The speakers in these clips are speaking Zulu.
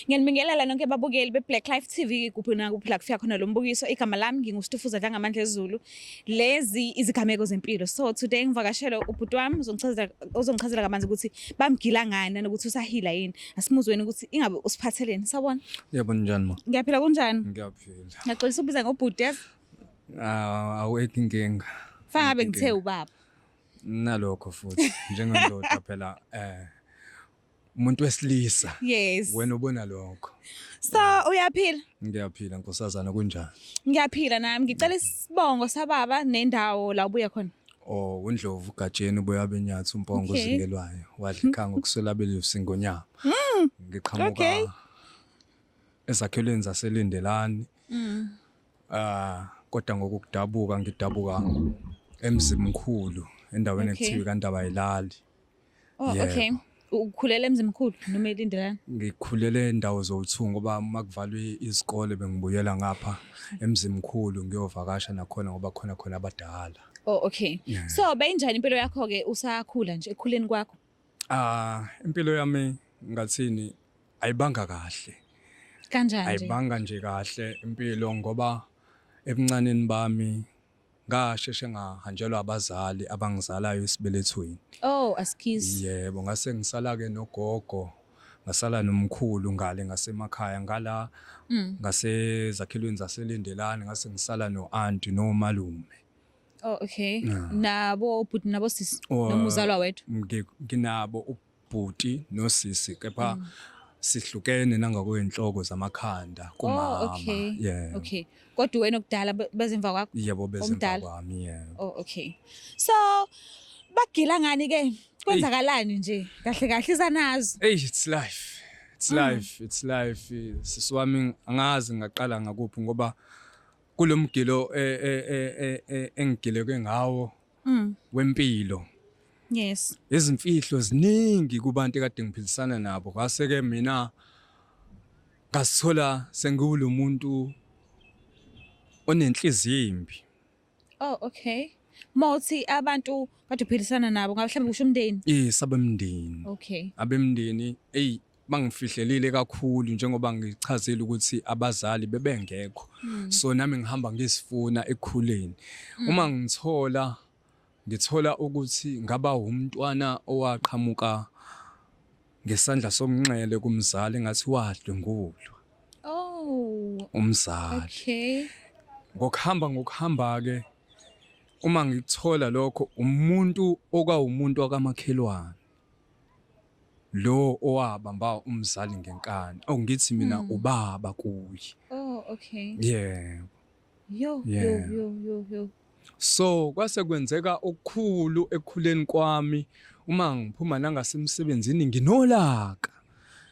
Ngiyanibingelela nonke babukeli be-Black Life TV kuphi nakuphi la kufika khona lo mbukiso. Igama lami nginguStufuza Dlangamandla Zulu. Lezi izigameko zempilo. So today ngivakashele ubhuti wami uzongichazela uzongichazela kabanzi ukuthi bamgila ngani nokuthi usahila yini. Asimuzweni ukuthi ingabe usiphatheleni. Sawona. Yebo njani ma? Ngiyaphila kunjani? Ngiyaphila. Ngiyaxolisa ubiza ngobhuti yazi. Ah, awekho inkinga. Fangabe ngithe ubaba. Nalokho futhi njengendoda phela eh umuntu wesilisa yes wena ubona lokho so uyaphila ngiyaphila nkosazana kunjani ngiyaphila nami ngicela isibongo sababa nendawo la ubuya khona o undlovu ugajeni uboya benyathi umpongo Okay. ozingelwayo wadla ikhanga ukuswela belusi ngonyama Mm, ngiqhamuka Okay. ezakhelweni zaselindelani mm. ah kodwa ngokudabuka ngidabuka emzimkhulu endaweni Okay. ekuthiwa kandaba yilali Oh Yebo. okay. Ukhulela emzimkhulu noma elindelana? Ngikhulele ndawo zowu-two ngoba uma kuvalwe izikole bengibuyela ngapha emzimkhulu ngiyovakasha nakhona ngoba khona khona abadala. Oh okay. Yeah. So beyinjani impilo yakho ke usakhula nje ekhuleni kwakho? Ah, impilo yami ngathini ayibanga kahle. Kanjani nje? Ayibanga nje kahle impilo ngoba ebuncaneni bami Ngasheshe ngahanjelwa abazali abangizalayo esibelethweni. Oh, askies. Yebo, ngase ngisala ke nogogo, ngasala nomkhulu ngale ngasemakhaya ngala Mm. ngasezakhelweni zaseLendelani ngase ngisala no-anti nomalume. Oh, okay. Yeah. Nabo bhuti nabo sisi. Oh, Nomuzalwa wethu. Ngi- Nginabo u- bhuti nosisi kepha mm. sihlukene nangakwenhloko zamakhanda oh, kumama oh, okay. yeah okay kodwa wena okudala bezimva kwakho yebo bezimva kwami yeah oh okay so bagila ngani ke kwenzakalani nje kahle kahle isanazo hey it's life it's mm. life it's life sisi wami angazi ngaqala ngakuphi ngoba kulomgilo e, e, e, engigileke ngawo mm. wempilo yes izimfihlo ziningi kubantu ekade ngiphilisana nabo kwase ke mina ngasithola sengiwulo muntu onenhliziyo imbi oh okay mawuthi abantu kade uphilisana nabo ngabe mhlawumbe kusho umndeni yes abemndeni okay abemndeni eyi bangifihlelile kakhulu njengoba ngichazile ukuthi abazali bebengekho mm. so nami ngihamba ngisifuna ekukhuleni mm. uma ngithola ngithola ukuthi ngaba umntwana owaqhamuka ngesandla somnxele kumzali ngathi wadlwengulwa oh umzali okay ngokuhamba ngokuhamba ke uma ngikuthola lokho umuntu okawumuntu wakamakhelwane lo owabamba umzali ngenkani oh ngithi mina Mm. ubaba kuye Oh, okay. yebo Yo, yo, Yeah. yo, yo, yo. so kwase kwenzeka okukhulu ekukhuleni kwami uma ngiphuma nangasemsebenzini nginolaka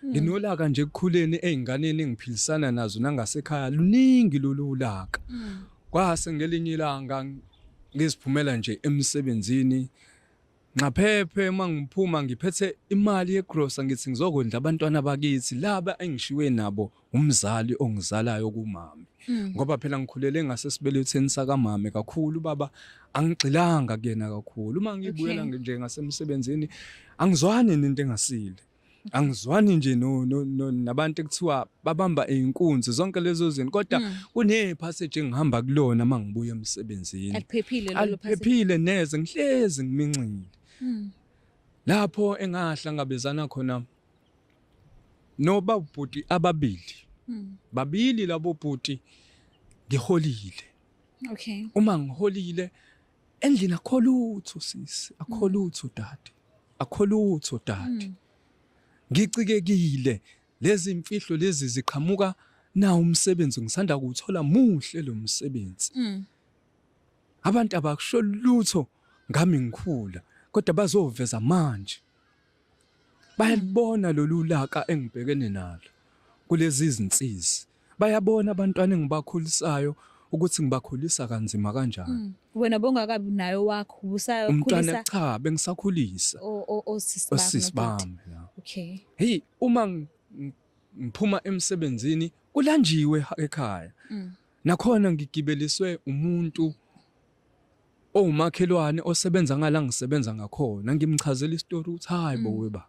Mm. nginolaka nje ekukhuleni ezinganeni engiphilisana nazo nangasekhaya luningi lolu ulaka Mm. kwase ngelinye ilanga ngiziphumela nje emsebenzini Nxaphephe uma ngiphuma ngiphethe imali yegrosa ngithi ngizokondla abantwana bakithi laba engishiwe nabo umzali ongizalayo kumami hmm. ngoba phela ngikhulele ngasesibeletheni sakamame kakhulu baba angigxilanga kuyena kakhulu uma ngibuya nje ngasemsebenzini angizwani nento engasile angizwani nje no, no, no nabantu ekuthiwa babamba inkunzi zonke lezo zinto kodwa mm. kune passage engihamba kulona mangibuya emsebenzini aliphephile lelo passage aliphephile neze ngihlezi ngiminxile mm. lapho engahlangabezana khona noba ubhuti ababili mm. babili labo bhuti ngiholile okay uma ngiholile endlini akho lutho sisi akho mm. lutho dade akho lutho dade mm. ngicikekile lezi mfihlo lezi ziqhamuka na umsebenzi ngisanda kuwuthola muhle lo msebenzi mm. abantu abakusho lutho ngami ngikhula kodwa bazoveza manje Bayalibona lolu laka engibhekene nalo kulezi izinsizi. Bayabona abantwana engibakhulisayo ukuthi ngibakhulisa kanzima kanjani. Mm. Wena bongakabi nayo wakho ubusayo umntwana cha bengisakhulisa. Osisi bami. Okay. Hey uma ngiphuma emsebenzini kulanjiwe ekhaya. Mm. Nakhona ngigibeliswe umuntu owumakhelwane osebenza ngala ngisebenza ngakhona ngimchazela isitori ukuthi hayi bo mm. weba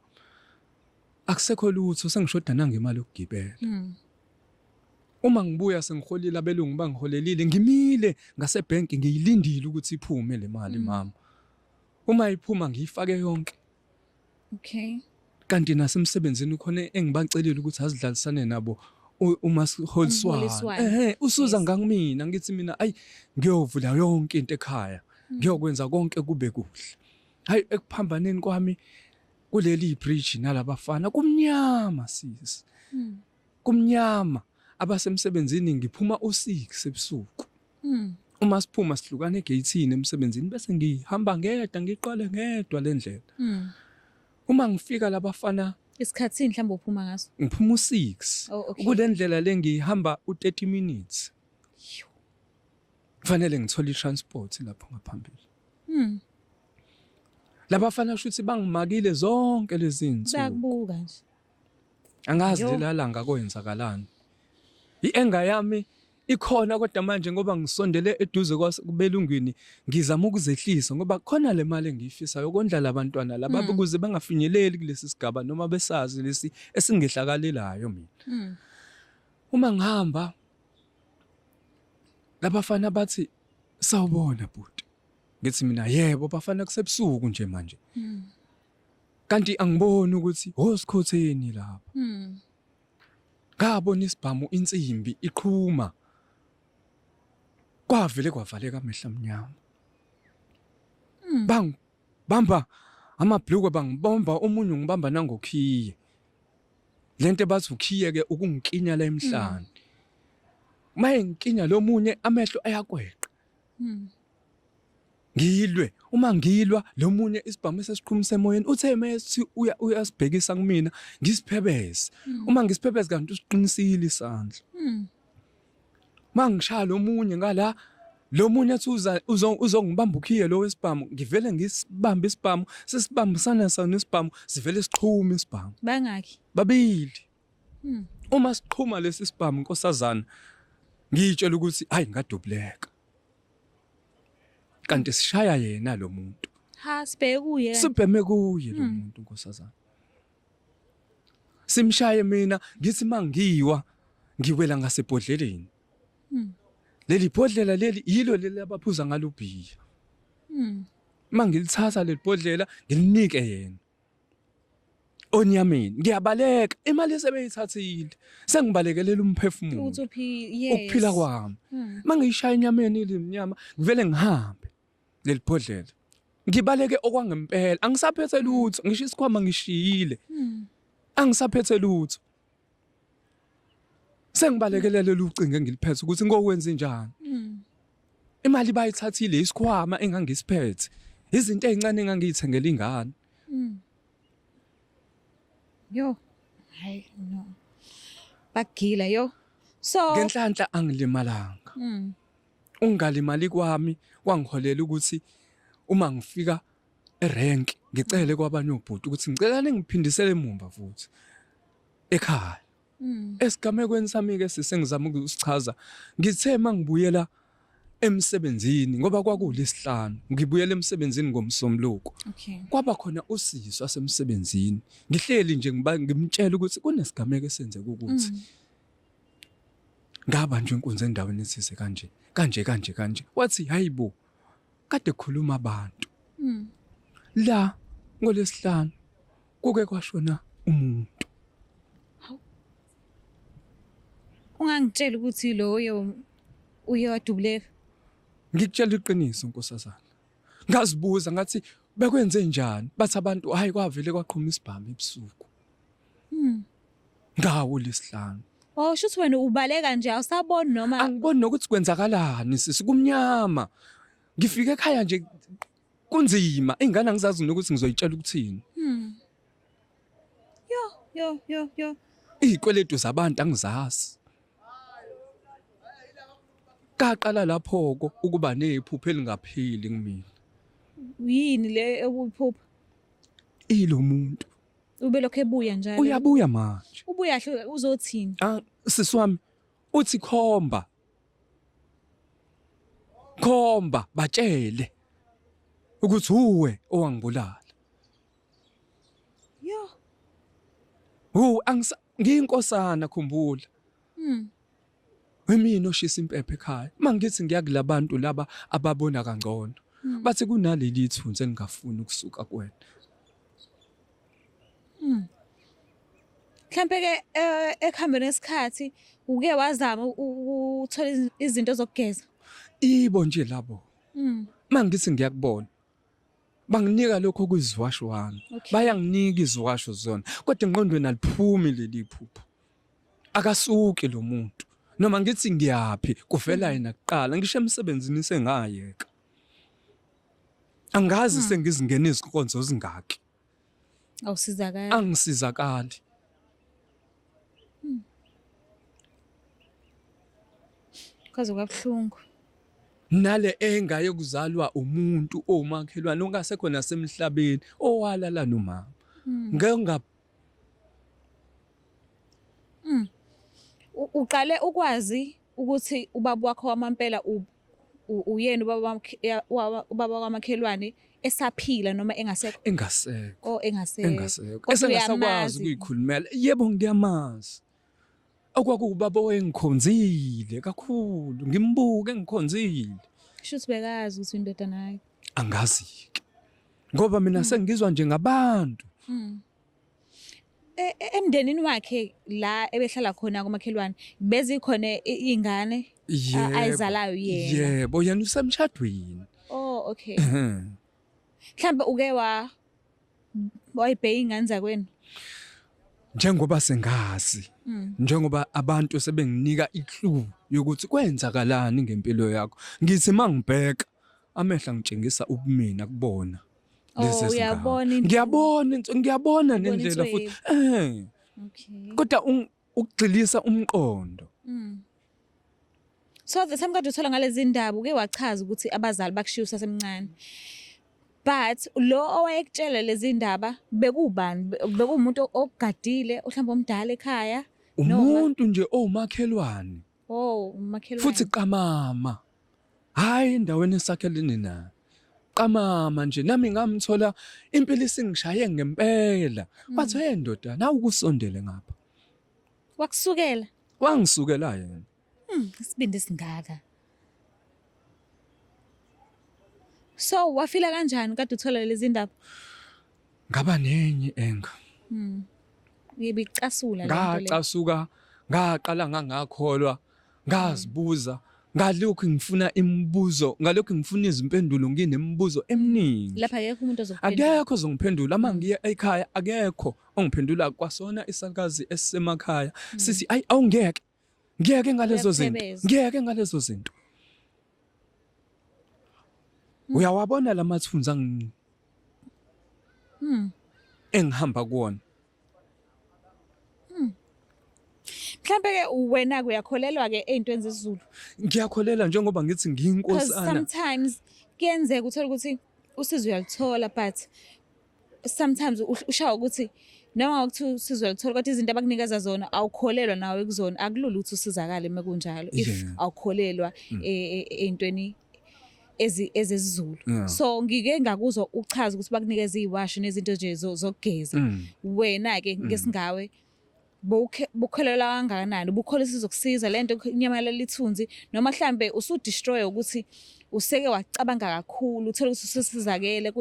akusekho lutho sengishoda nangemali yokugibela mm. uma ngibuya sengiholile abelungu bangiholelile ngimile ngasebank ngiyilindile ukuthi iphume le mali mm. mama uma iphuma ngiyifake yonke Okay. Kanti nasemsebenzini khona engibacelile ukuthi azidlalisane nabo uma siholiswana. Ehe, usuza ngangimina ngithi mina ayi ngiyovula yonke into ekhaya. Hmm. Ngiyokwenza konke kube kuhle. Hayi ekuphambaneni kwami kuleli bridge nalabafana kumnyama sisi. Hmm. Kumnyama abasemsebenzini ngiphuma u-6 ebusuku. Mm. Uma siphuma sihlukana egeyithini emsebenzini bese ngihamba ngedwa ngiqale ngedwa le ndlela. Mm. Uma ngifika labafana isikhathini mhlawumbe uphuma ngaso. Ngiphuma u-6. Oh, okay. Kule ndlela le ngihamba u-30 minutes. Kufanele ngithole i-transport lapho ngaphambili. Mm. Labafana shuthi bangimakile zonke lezi zinsuku. Bakubuka nje. angazi Yo. lilala ngakwenzakalani i-enga yami ikhona kodwa manje ngoba ngisondele eduze kwase- kubelungwini ngizama ukuzehlisa ngoba khona le mali engiyifisayo yokondla labantwana laba Mm. ukuze bangafinyeleli kulesi sigaba noma besazi lesi esingehlakalelayo mina Mm. uma ngihamba labafana bathi sawubona bhuti ngithi mina yebo bafana kusebusuku nje manje Mm. Kanti angiboni ukuthi hosikhotheni lapha. Mhm. Ngabona isibhamu insimbi iqhuma. Kwavele kwavaleka amehla amnyama. Mhm. Bang bamba amabhlukwe bangibomba omunye ngibamba nangokhiye. Lento bathi ukhiye ke ukungikinya la emhlanje. Maye ngikinya lomunye amehlo ayakweqa. Mhm. Ngilwe uma ngilwa lo munye isibhamu esesiqhumisa emoyeni uthe uma esithi uya- uyasibhekisa kumina ngisiphebeze Mm. uma ngisiphebeze kanti usiqinisile isandla Mm. uma ngishaya lo munye ngala lo munye athi uza- uzo- uzongibamba ukhiye lo wesibhamu ngivele ngisibambe isibhamu sesibambisana sona isibhamu sivele sixhume isibhamu Bangaki? babili Hmm. Uma siqhuma lesi sibhamu nkosazana ngiyitshela ukuthi hayi ngadubuleka. Kanti sishaya yena lo muntu. Ha sibheke kuye. Sibheme kuye lo hmm. muntu nkosazana. Simshaye mina ngithi mangiwa ngiwela ngasebhodleleni. Hmm. Leli bhodlela leli yilo leli abaphuza ngalo bhiya. Mangilithatha leli bhodlela ngilinike yena. Onyameni ngiyabaleka imali esebeyithathile sengibalekelela umphefumulo ukuthi uphi yes ukuphila kwami Hmm. mangiyishaya enyameni ilimnyama ngivele ngihambe lelibhodlela ngibaleke okwangempela angisaphethe lutho ngisho isikhwama ngishiyile Hmm. angisaphethe lutho Sengibalekelela lolu ucingo engiliphethe ukuthi ngokwenze njani. Mm. Imali bayithathile isikhwama engangisiphethe. Izinto ezincane engangiyithengela ingane. Mm. Yo. Hayi no. Bagila yo. So ngenhlanhla angilimalanga. Mm. Ungalimali kwami kwangiholela ukuthi uma ngifika erank ngicele kwabanye obhuti ukuthi ngicela ningiphindisele emumva futhi ekhaya hmm. esigamekweni sami ke sisengizama ukusichaza ngithe mangibuyela emsebenzini ngoba kwakulesihlanu ngibuyela emsebenzini ngomsombuluko okay. kwaba khona usisi wasemsebenzini ngihleli nje ngiba ngimtshela ukuthi kunesigameko esenzeka ukuthi mm. ngaba nje inkunzi endaweni esise kanje kanje kanje kanje wathi hayibo kade khuluma abantu mm. la ngolesihlanu kuke kwashona umuntu ungangitshela ukuthi loyo uye wadubuleka ngikutshela iqiniso nkosazana ngazibuza ngathi bekwenze njani bathi abantu hayi kwavele kwaqhuma isibhamu ebusuku hmm. Ngawo lesihlanu. Oh shuthi wena ubaleka nje awusaboni noma Angiboni nokuthi kwenzakalani sisi kumnyama. Ngifike ekhaya nje kunzima. Ingane angizazi nokuthi ngizoyitshela ukuthini. Hmm. Yo yo yo yo. Izikweletu zabantu angizazi. Kaqala laphoko ukuba nephupho elingapheli kumina. Yini le ekuphupha? Ilomuntu. Ubelokhu ebuya njalo. Uyabuya manje. Ubuya hle uzothini? Ah, sisi wami uthi khomba. Khomba batshele ukuthi uwe owangibulala. Yo. Hu angisa ngiyinkosana khumbula. Mm. Imina oshisa impepho ekhaya. Mangithi ngiya kulabantu laba ababona kangcono. Hmm. Bathi kunaleli ithunzi engingafuni ukusuka kuwena. Hmm. Mhlampe ke eh, ekuhambeni esikhathi uke wazama ukuthola izinto zokugeza. Ibo nje labo. Hmm. Mangithi ngiyakubona. Banginika lokho okuziwasho wami. Bayanginika iziwasho zona. Kodwa engqondweni aliphumi leli phupho. akasuki lo muntu noma ngithi ngiyaphi kuvela yena kuqala ngisho emsebenzini sengayeka angazi hmm. sengizingena izinkonzo zingaki awusizakali angisizakali hmm. kwaze kwabuhlungu nale engaye kuzalwa umuntu omakhelwane ongasekhona semhlabeni owalala nomama hmm. ngeke Mm. Uqale ukwazi ukuthi ubaba wakho wamampela uyena ubaba ubaba kwamakhelwane esaphila noma engasekho engasekho oh engasekho engasekho esengasakwazi ukuyikhulumela yebo ngiyamazi okwakuwubaba owayengikhonzile kakhulu ngimbuke ngikhonzile kusho ukuthi bekazi ukuthi indodana yakhe angazi-ke ngoba mina mm. sengizwa nje ngabantu mm. e, e, emndenini wakhe la ebehlala khona komakhelwane bezikhona iy'ngane ayizalayo yena yebo yena usemshadweni oh okay mhlawumbe uke wa wayibheka ingane zakwenu njengoba sengazi hmm. njengoba abantu sebenginika iclue yokuthi kwenzakalani ngempilo yakho ngithi mangibheka amehla ngitshengisa ubumina kubona oh, lezi zingane ngiyabona ngiyabona nendlela futhi eh kodwa ukugxilisa umqondo mm. so the same kade uthola ngalezi ndaba uke wachaza ukuthi abazali bakushiya usasemncane but lo owayekutshela lezi ndaba bekubani bekuwumuntu ogadile ohlamba omdala ekhaya umuntu nje owumakhelwane Oh, umakhelwane. Futhi qamama. Hayi endaweni esakhelene nayo. Qamama nje nami ngamthola impilo isingishaye ngempela. Mm. Wathi hey ndoda, nawu kusondele ngapha. Wakusukela. Wangisukela yena. Hmm, isibindi singaka. So wafila kanjani kade uthola lezi ndaba? ngaba nenye enga mm. ngibicasula ngacasuka ngaqala ngangakholwa ngazibuza ngalokhu ngifuna imibuzo ngalokhu ngifuna izimpendulo nginemibuzo eminingi lapha akekho umuntu ozokuphendula akekho ozongiphendula uma mm. ngiya ekhaya akekho ongiphendula kwasona isalukazi esisemakhaya mm. sisi ayi awungeke ngiyeke ngalezo zinto ngiyeke ngalezo zinto hmm. uyawabona lamathunzi angi hmm. engihamba kuwona hmm. mhlambe ke wena kuyakholelwa ke ezintweni zezulu ngiyakholela njengoba ngithi ngiyinkosana sometimes kuyenzeka uthola ukuthi usizo uyalithola but sometimes ushawa ukuthi noma ukuthi usizwe luthola kodwa izinto abakunikeza zona awukholelwa nawe kuzona akulula ukuthi usizakale uma kunjalo if awukholelwa mm. e, e, e, ey'ntweni ezezizulu so ngike ngakuzwa uchaza ukuthi bakunikeza iy'washi nezinto nje zokugeza mm. wena-ke mm. ngesingawe bukholelwa kangakanani bukholisa izokusiza le nto kunyamalala ithunzi noma mhlambe usudestroye ukuthi useke wacabanga kakhulu uthole ukuthi usesizakele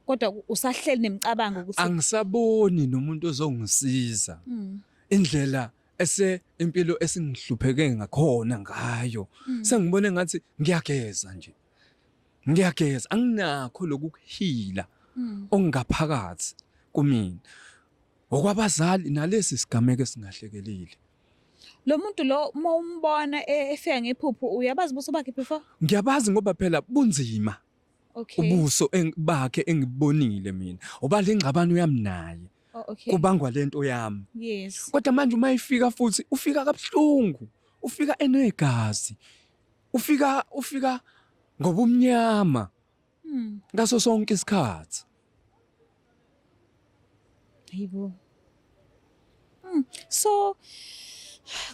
kodwa usahleli nemicabango ukuthi angisaboni nomuntu ozongisiza hmm. indlela ese impilo esingihlupheke ngakhona ngayo hmm. sengibone ngathi ngiyageza nje ngiyageza anginakho lokuhila hmm. ongaphakathi kumina Ngokwabazali nalesi sigameko esingahlekelile. Lo muntu lo uma umbona e- efika ngephupho uyabazi ubuso bakhe before? Ngiyabazi ngoba phela bunzima Okay. ubuso eng- bakhe engibonile mina. Oba le ngxabano yami naye Oh, okay. kubangwa lento yami. Yes. Kodwa manje uma ifika futhi ufika kabuhlungu, ufika enegazi. Ufika ufika ngobumnyama. Hmm. Ngaso sonke isikhathi. Hayibo. Hmm. So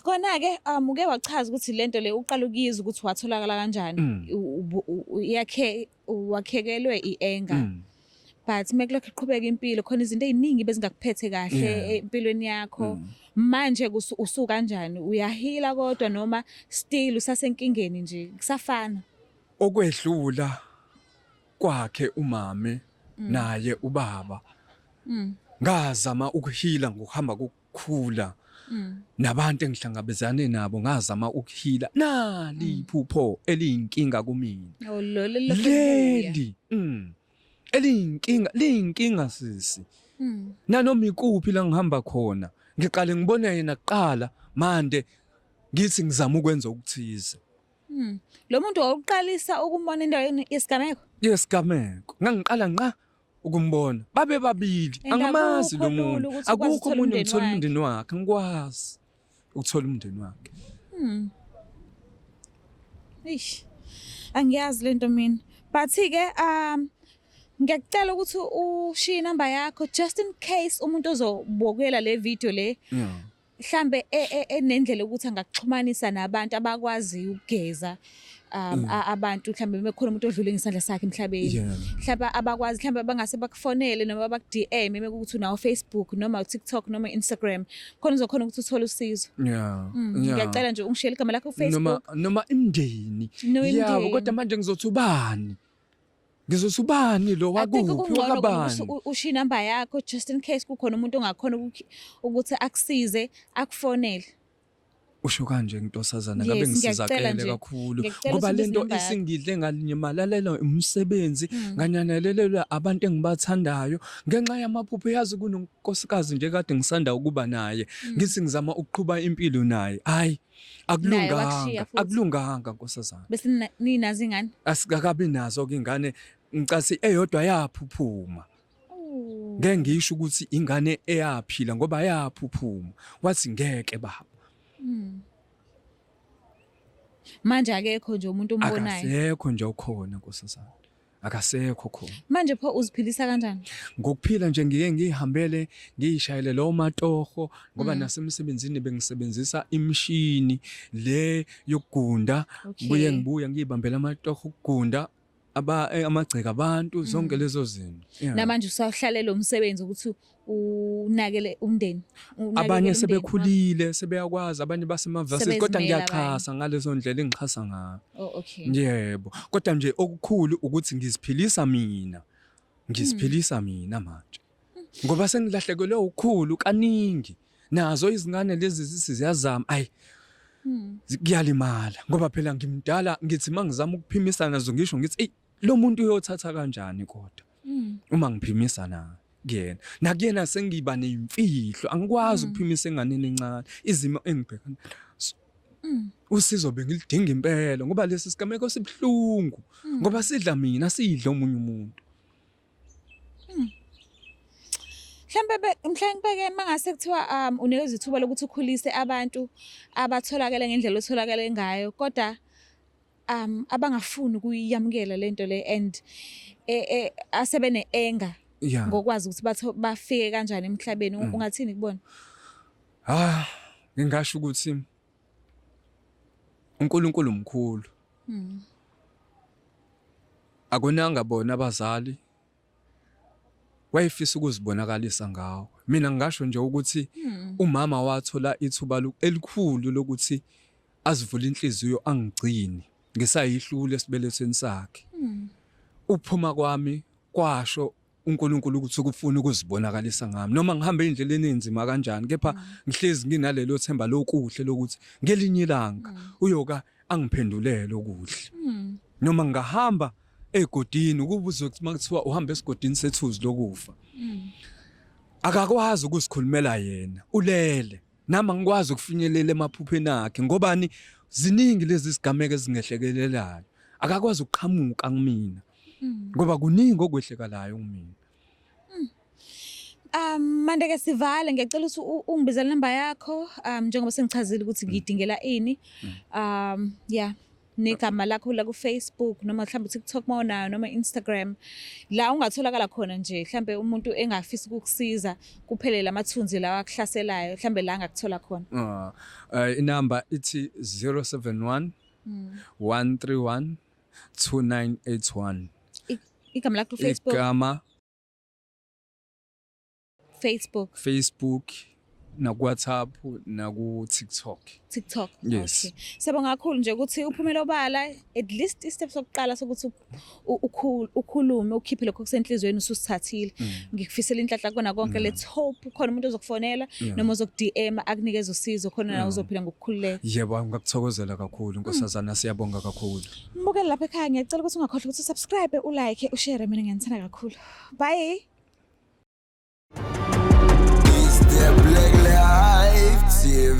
kona ke um uke wachaza ukuthi lento le uqala ukuyizwa ukuthi watholakala kanjani hmm. yakhe wakhekelwe ienga. Hmm. but mekulokho iqhubeka impilo khona izinto eziningi bezingakuphethe kahle empilweni yakho mm. manje usuka kanjani uyahila kodwa noma still usasenkingeni nje kusafana okwedlula kwakhe umame mm. naye ubaba mm. ngazama ukuhila ngokuhamba kokukhula mm. nabantu engihlangabezane nabo ngazama ukuhila nali iphupho eliyinkinga kumina oh, leli eliyinkinga liyinkinga sisi nanoma ikuphi la ngihamba khona ngiqale ngibona yena kuqala manje ngithi ngizama ukwenza okuthize Hmm. Lo muntu wawuqalisa ukumbona endaweni yesigameko? Yesigameko. Ngangiqala ngqa ukumbona. Babe babili. Angamazi lo muntu. Akukho umuntu ngithola umndeni wakhe. Ngikwazi ukuthola umndeni wakhe. Hmm. Eish. Angiyazi lento mina. But ke um ngiyakucela ukuthi ushiye inamba yakho just in case umuntu ozobukela le video le. Yeah. mhlambe e, e, enendlela ukuthi angakuxhumanisa nabantu abakwaziyo ukugeza um, mm. abantu mhlambe mekhona umuntu odlule ngesandla sakhe emhlabeni mhlambe abakwazi mhlambe bangase bakufonele noma baku DM mekuthi unawo Facebook noma uTikTok noma Instagram khona uzokhona ukuthi uthole usizo yeah mm, ngiyacela nje ungishele igama lakho ku Facebook noma noma imndeni yabo kodwa manje ngizothi ubani Ngizothi ubani lo I think wakuphi kungcono ukuthi wakabani? u- ushiye inamba yakho just in case kukhona umuntu ongakhona ukukhi- ukuthi akusize akufonele Usho kanje ngintosazana Yes, ngabe ngiyacela ngisizakele nje. kakhulu Ngiyacela ngoba usindise lento inamba yakho. isingidle ngalinyamalalelwa umsebenzi Mm. nganyanelelelwa abantu engibathandayo ngenxa yamaphupho yazi kunonkosikazi nje kade ngisanda ukuba naye Mm. ngithi ngizama ukuqhuba impilo naye hayi akulunganga akulunganga nkosazana bese ninazi ingane asikakabi nazo ke ingane ngicasi eyodwa yaphuphuma ngeke ngisho ukuthi ingane eyaphila ngoba yaphuphuma wathi ngeke baba hmm. manje akekho nje umuntu ombonayo akekho nje okhona nkosazana akasekho khona manje pho uziphilisa kanjani ngokuphila nje ngiye ngihambele ngiyishayele lo matoho ngoba mm. nasemsebenzini bengisebenzisa imshini le yokugunda okay. buye ngibuya ngiyibambela amatoho ukugunda aba eh, amagceke abantu zonke mm. lezo zinto namanje usahlalele umsebenzi ukuthi unakele umndeni abanye sebekhulile sebeyakwazi abanye basemavasi kodwa ngiyaxhasa ngalezo ndlela engixhasa ngayo oh, okay yebo kodwa nje okukhulu ukuthi ngiziphilisa mina ngiziphilisa hmm. mina manje ngoba sengilahlekelwe ukukhulu kaningi nazo izingane lezi zisiziyazama ay hmm. kuyalimala ngoba phela ngimdala ngithi mangizama ukuphimisa nazo ngisho ngithi ey lo muntu uyothatha kanjani kodwa mm. uma ngiphimisa naye kuyena nakuyena sengiba nemfihlo angikwazi mm. ukuphimisa enganeni encane izimo engibhekana nazo mm. usizo bengilidinga impela ngoba lesi sigameko sibuhlungu mm. ngoba sidla mina sidla omunye umuntu mhlambe mhlambe ke mangase kuthiwa um unikezwe ithuba lokuthi ukhulise abantu abatholakala ngendlela otholakala ngayo kodwa um abangafuni ukuyamukela lento le and eh, eh, asebene anger yeah ngokwazi ukuthi batho bafike kanjani emhlabeni Mm. ungathini kubona ah ngingasho ukuthi uNkulunkulu mkhulu Mm. akonanga bona abazali wayefisa ukuzibonakalisa ngawo mina ngingasho nje ukuthi hmm. umama wathola ithuba elikhulu lokuthi azivule inhliziyo angigcini ngisayihlule esibelethweni sakhe hmm. ukuphuma kwami kwasho uNkulunkulu ukuthi ukufuna ukuzibonakalisa ngami noma ngihamba endleleni enzima kanjani kepha hmm. ngihlezi nginalelo themba lokuhle lokuthi ngelinye ilanga uyoka angiphendulele okuhle noma ngahamba mm. egodini ukuba uzothi makuthiwa uhamba esigodini sethuzi lokufa mm. akakwazi ukuzikhulumela yena ulele nami angikwazi ukufinyelela emaphupheni akhe ngobani ziningi lezi zigameko ezingehlekelelayo akakwazi ukuqhamuka kumina mm. ngoba kuningi okwehlekalayo kumina Um manje ke sivale ngiyacela ukuthi ungibizele number yakho um njengoba sengichazile ukuthi ngidingela ini. Um yeah negama lakho la ku Facebook noma mhlawumbe TikTok mawunayo noma Instagram la ungatholakala khona nje mhlawumbe umuntu engafisa ukukusiza kuphele lamathunzi lawa akuhlaselayo mhlawumbe la ngakuthola khona. Ah eh, inamba ithi 071 131 2981 igama lakho ku Facebook igama Facebook. Facebook nakuWhatsApp naku-TikTok. TikTok. Yes. Okay. Siyabonga kakhulu nje ukuthi uphumele obala at least istep sokuqala sokuthi ukhulume ukhiphe lokho kusenhlizweni ususithathile. Mm. Ngikufisela inhlanhla kona konke mm. let's hope khona umuntu ozokufonela noma ozoku-DM akunikeza usizo khona nawe uzophila ngokukhululeka. Yebo ngakuthokozela kakhulu nkosazana mm. siyabonga kakhulu. Mbukeli lapha ekhaya ngiyacela ukuthi ungakhohlwa ukuthi usubscribe, ulike, ushare mina ngiyanithanda kakhulu. Bye. Is the black life TV?